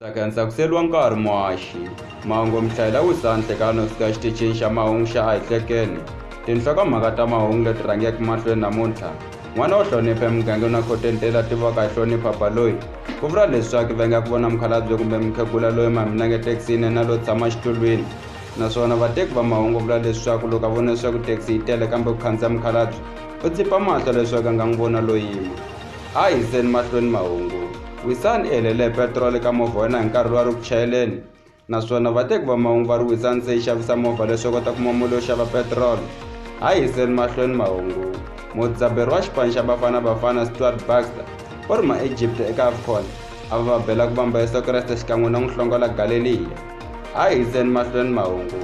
saka ndzi tsakuseriwa nkarhi muhaxi mahungu mi hlayela wisa nhlekano suka exitichini xa mahungu xa a hi hlekeni tinhlokomhaka ta mahungu leti rhangeke mahlweni namuntlha n'wana wo hlonipha emugangeni wa khotente la tivaka hi hlonipha baloyi ku vula leswaku va nga ku vona mukhalabye kumbe mukhegula loyi maminange thekisini na lo tshama xitulwini naswona vateki va mahungu vula leswaku loko a vona leswaku thekisi yi tele kambe ku khandziya mukhalabye u tsipa mahlo leswaku a nga n'wi vona loyima a hi yiseni mahlweni mahungu Wisani i helele hi petiroli eka movha wa yena hi nkarhi lowu a ri ku chayeleni naswona vateki va mahungu va ri wisani se yi xavisa movha leswi kota kuma mali yo xava petiroli ha yiseni mahlweni mahungu mudzaberi wa xipano xa bafana bafana stuart baxter u ri ma-egypt eka afcon a va va bela ku vamba yesu kreste xikan'we na n'wi hlongola galeliya ha yiseni mahlweni mahungu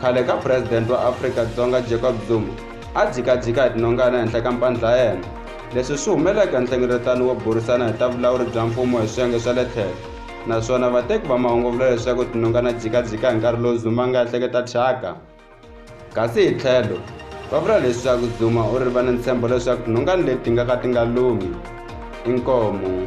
khale ka presidente wa afrika dzonga jacob zuma a dzikadzika hi tinongana henhla ka mpandla yena leswi swi humelela eka nhlengeletano wo burisana hi ta vulawuri bya mfumo hi swiyenge swa le tlhelo naswona vateki va mahungu vula leswaku tinongana dzikadzika hi nkarhi lowu zuma nga ehleketa thyaka kasi hi tlhelo va vula leswaku zuma u ri va ni ntshembo leswaku tinongani leti nga ka ti nga lumi inkomu